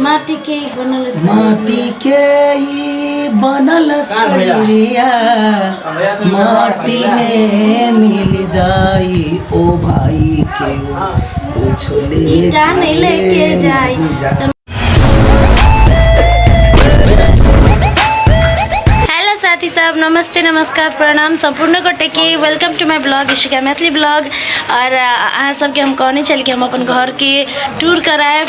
माटी के ही बनल शरीर माटी बिया। के ई बनल शरीरिया माटी में मिल जाई ओ भाई के कुछ ले ईटा नहीं लेके जाई। जाई हेलो साथी सब नमस्ते नमस्कार प्रणाम सम्पूर्ण गोटे के welcome to my blog Ishika Maithili blog और अ, अहाँ सबके हम कहने छल कि हम अपन घर के टूर कराएब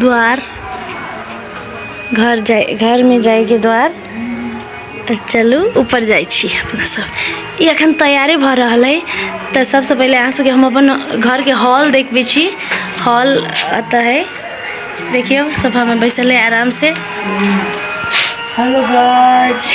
द्वार घर जाय घरमे जाइके द्वार आओर चलू ऊपर जाइ छी अपना सब ई एखन तैयारे भऽ रहल अइ तऽ सबसँ पहिले अहाँ सबके हम अपन घरके हॉल देखबै छी हॉल एतऽ है देखियौ सब हमर बैसल है आरामसँ हेलो गाइस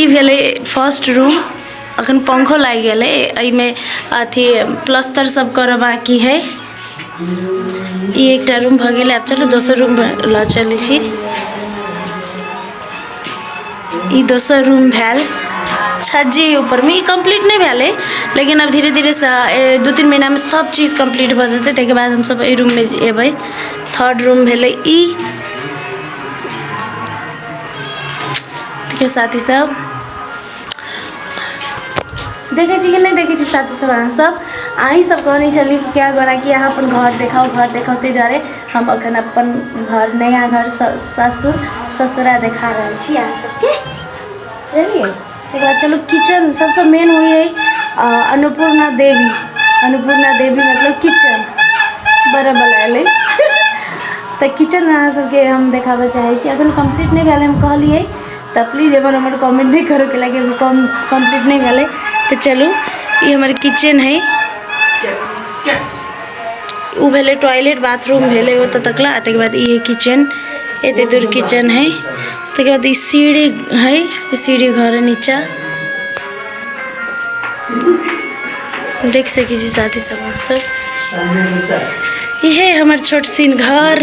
ई भेलै फर्स्ट रूम अखन पंखो लागि गेलै एहिमे अथी प्लस्तर सब करऽ बाकी है ई एकटा रूम भऽ गेलै आब चलू दोसर रूम लऽ चलै छी ई दोसर रूम भेल छज्जी ऊपरमे ई कम्प्लीट नहि भेलै लेकिन अब धीरे धीरे से ए, दू तीन महीनामे सब चीज कम्प्लीट भऽ जेतै ताहिके बाद हमसब एहि रूममे एबै थर्ड रूम भेलै ई देखियौ साथी सब देखै छी कि नहि देखै छी साथी सब अहाँ सब अहीं सब कहने छलियै कि क्या गोरा कि अहाँ अपन घर देखाउ घर देखाउ ताहि दुआरे हम अखन अपन घर नया घर स- ससुर ससुरा देखा रहल छी अहाँ सबके बुझलियै तकर बाद चलू किचन सभसँ मेन होइ हइ अन्नपूर्णा देवी अन्नपूर्णा देवी मतलब किचन बड़ावला अयलै तऽ किचन अहाँ सभके हम देखाबय चाहै छी एखन कम्प्लीट नहि भेल हम कहलियै तऽ प्लीज एहिपर हमर कमेंट नहि करू कैलाकि अभी कम कम्प्लीट नहि भेलै तऽ चलू ई हमर किचन हइ ओ भेलै टॉयलेट बाथरूम भेलै ओतऽ तकला आ ताहिके बाद ई हइ किचन एतेक दूर किचन हइ तकर बाद ई सीढ़ी है ई सीढ़ी घर है नीचा देख सकी छी साथी सब अहाँ सब इहे हमर छोट सीन घर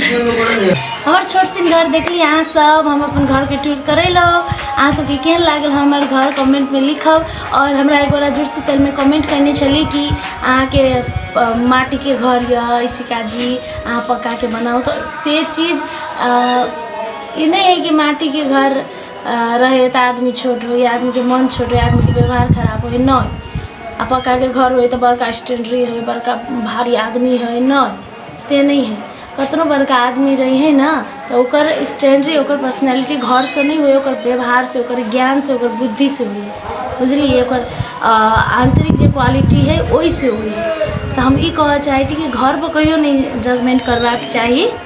हमर छोट सीन घर देखली अहाँ सब हम अपन घर के टूर करैलौ अहाँ सबके केहन लागल हमर घर कमेंट में लिखब और हमरा एगो राजुर शीतल में कमेंट करने छली कि अहाँ के अ, माटी के घर या इसिका जी अहाँ पक्का के बनाओ तो से चीज अ, ई नहि हइ कि माटिके घर रहै तऽ आदमी छोट होइ या आदमीके मोन छोट होइ आदमीके बेवहार खराब होइ नहि आओर पक्काके घर होइ तऽ बड़का स्टैण्डरी होइ बड़का भारी आदमी होइ नहि से नहि हइ कतनो बड़का आदमी रहिए ने तऽ ओकर स्टैण्डरी ओकर पर्सनैलिटी घरसँ नहि होइ हइ ओकर बेवहारसँ ओकर ज्ञानसँ ओकर बुद्धिसँ होइ हइ बुझलिए ओकर आन्तरिक जे क्वालिटी हइ ओहिसँ होइ हइ तऽ हम ई कहऽ चाहै छी कि घरपर कहिओ नहि जजमेन्ट करबाके चाही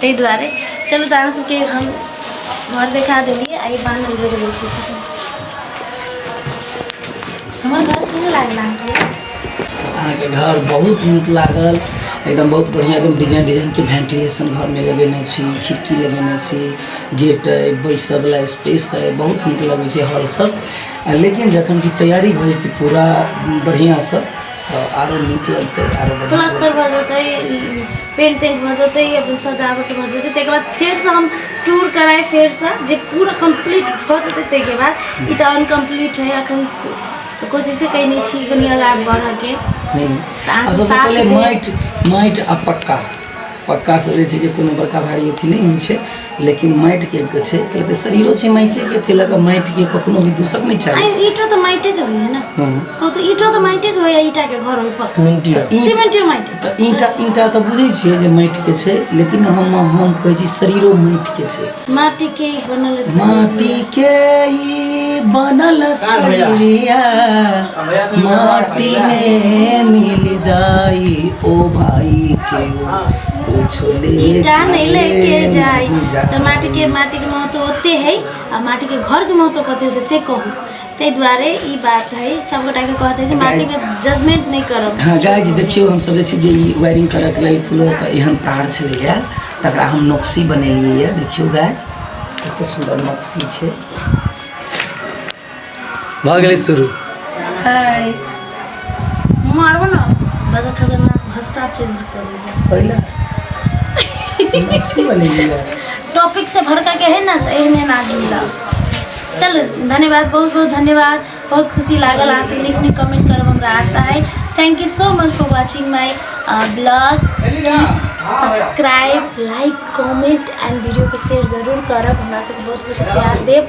ताहि दुआरे चलू तऽ अहाँ सबके हम घर देखा देलियै आ ई बान्ह के जगह बेसी छथिन हमर घर केहन लागल अहाँके अहाँके घर बहुत नीक लागल एकदम बहुत बढ़िआँ एकदम डिजाइन डिजाइनके वेंटिलेशन घरमे लगेने छी खिड़की लगेने छी गेट अइ बैसयवला स्पेस अइ बहुत नीक लगै छै हॉल सब आ लेकिन जखन कि तैयारी भऽ जेतै पूरा बढ़िआँसँ तऽ आरो नीक लगतै आरो बढ़िआँ प्लस्तर भऽ जेतै पेन्टिंग भऽ जेतै अपन सजावट भऽ जेतै ताहिके बाद फेरसँ हम टूर कराइ फेरसँ जे पूरा कम्प्लीट भऽ जेतै ताहिके बाद ई तऽ अनकम्प्लीट हइ एखन कोशिशे कयने छी कनि आगाँ बढ़यके तऽ अहाँ सब साथ देब माटि माटि आ पक्का पक्कासँ जे छै जे कोनो बड़का भारी अथी नहि होइ छै लेकिन माटि के के छै पहिले तऽ शरीरो छै माटि के ताहि लऽ कऽ माटि के कखनो भी दूषक नहि चाही अरे ईटो तो माइटे के होइए ना हँ। कहू तो ईटो तो माइटे के होइए ईटा के घर ऊपर सीमेंट यऽ। ईंट- सीमेंटे माइट तऽ ईंटा ईंटा तऽ बुझै छियै जे माटि के छै लेकिन हम हम कहै छी शरीरो माटि के छै माटी के ही बनल है माटी के ई बनल शरीरिया माटी में मिल जाई ओ भाई के कुछ ईटा नहीं लेके जाई तो माटी के माटी के महत्व होते है आ माटी के घर के महत्व कते होते से कहू ताहि दुआरे ई बात है सब गोटा के कहऽ चाहै छै माटी पे जजमेंट नहीं करब हाँ गाय जी देखियौ हम सोचै छी जे ई वायरिंग करैके लेल फूलो तऽ एहन तार छलैए तकरा हम नक्सी बनेलियै यऽ देखियौ गाय कतेक सुन्दर नक्सी छै भऽ गेलै शुरू हाय मारबो ना बस खजाना हस्ता चेंज कर देगा पहिले मैक्सी बनेली है टॉपिक से भड़का के है ना तो एहन एहन आदमी ला चलो धन्यवाद बहुत बहुत धन्यवाद बहुत खुशी लागल अहाँ से नीक नीक कमेंट करब हमरा आशा है thank you so much for watching my blog subscribe like comment and वीडियो के शेयर जरूर करब हमरा सबके बहुत बहुत प्यार देब